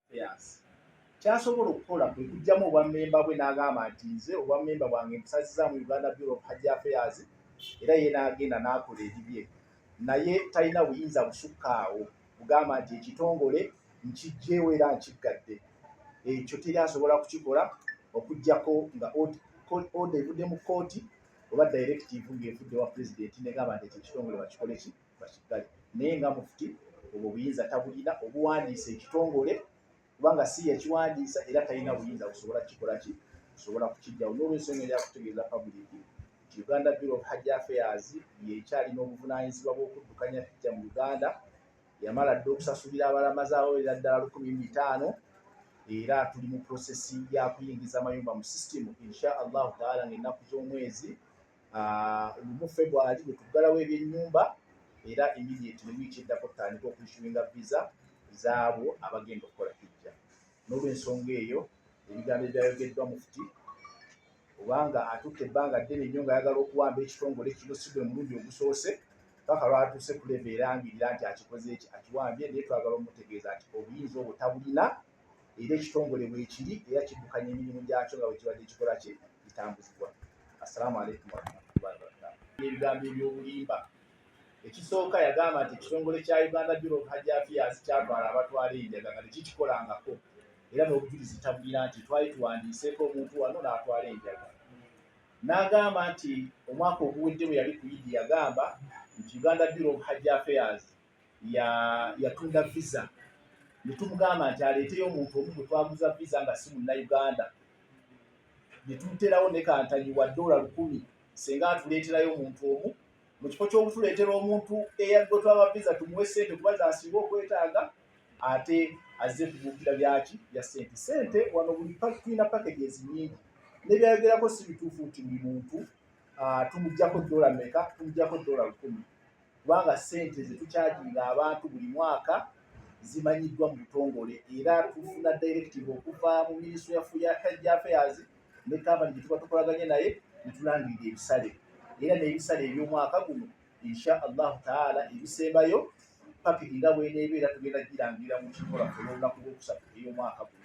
Affairs kyasobola okukola kwe kujjamu obwammemba bwe n'agamba nti nze obwammemba bwange mbusaziza mu Uganda Bureau of Hajj Affairs era ye n'agenda n'akola ebibye naye talina buyinza busukka awo kugamba nti ekitongole nkijjeewo era nkiggadde ekyo teri asobola kukikola okujjako nga oda evudde mu kkooti oba directive ng'evudde wa pulezidenti negamba nti ekyo ekitongole bakikole ki bakiggale naye nga mufuti obwo obuyinza tabulina obuwandiisa ekitongole kubanga si yakiwandiisa era talina buyinza busobola kikola ki kusobola kukijjawo n'olwensonga eyakutegeeza pabuliki nti uganda bureau of hajj affairs yekyalina obuvunaanyizibwa bw'okuddukanya hijja mu uganda yamala dda okusasulira abalamazi abawerera ddala lukumi mu bitaano era tuli mu prosesi ya kuyingiza amayumba mu sisitimu insha allahu taala ngaennaku z'omwezi Ah, lumu ffe bwali bwe tuggalawo ebyennyumba era immediate ne wiiki eddako tutandika okuyisuinga visa zaabo abagenda okukola hijja n'olwensonga eyo ebigambo ebyayogeddwa mufuti obanga atutte ebbanga ddene nnyo ngaayagala okuwamba ekitongole kino si gwe mulundi ogusoose paka lwatuuse kuleva erangirira nti akikoze eki akiwambye naye twagala omutegeeza nti obuyinza obwo tabulina era ekitongole bwekiri era kiddukanya emirimu gyakyo nga bwekibadde kikola kye bitambuzibwa assalamu aleikum warahmatullahi wabarakatu ebigambo ebyobulimba ekisooka yagamba nti ekitongole kya uganda bureau of hajj affairs kyatwala abatwala enjaga nga tekikikolangako era n'obujulizi tabulira nti twali tuwandiiseeko omuntu wano n'atwala enjaga n'agamba nti omwaka oguwedde bwe yali ku idi yagamba nti uganda bureau of hajj affairs yatunda visa ne tumugamba nti aleeteyo omuntu omu gwe twaguza visa nga si munnayuganda ne tuteerawo ne kantanyi wa doola lukumi singa atuleeterayo omuntu omu mu kifo ky'okutuleetera omuntu eyagwe twaba visa tumuwe ssente kuba zansinga okwetaaga ate azze kubuukira byaki bya ssente ssente wano buli tulina package ezinyingi nebyayogerako si bituufu nti buli muntu ah, tumugjako doola meka tumugjako doola lukumi kubanga ssente ze tukyaginga abantu buli mwaka zimanyiddwa mu butongole era tufuna directive okuva mu minisitule ya fuya hajja affairs ne kampani gye tuba tukolaganye naye ne tulangirira ebisale era n'ebisale eby'omwaka guno insha allahu taala ebisembayo pakiti nga bweneebeera tugenda girangirira mu kikola ku lw'olunaku lw'okusatu ey'omwaka guno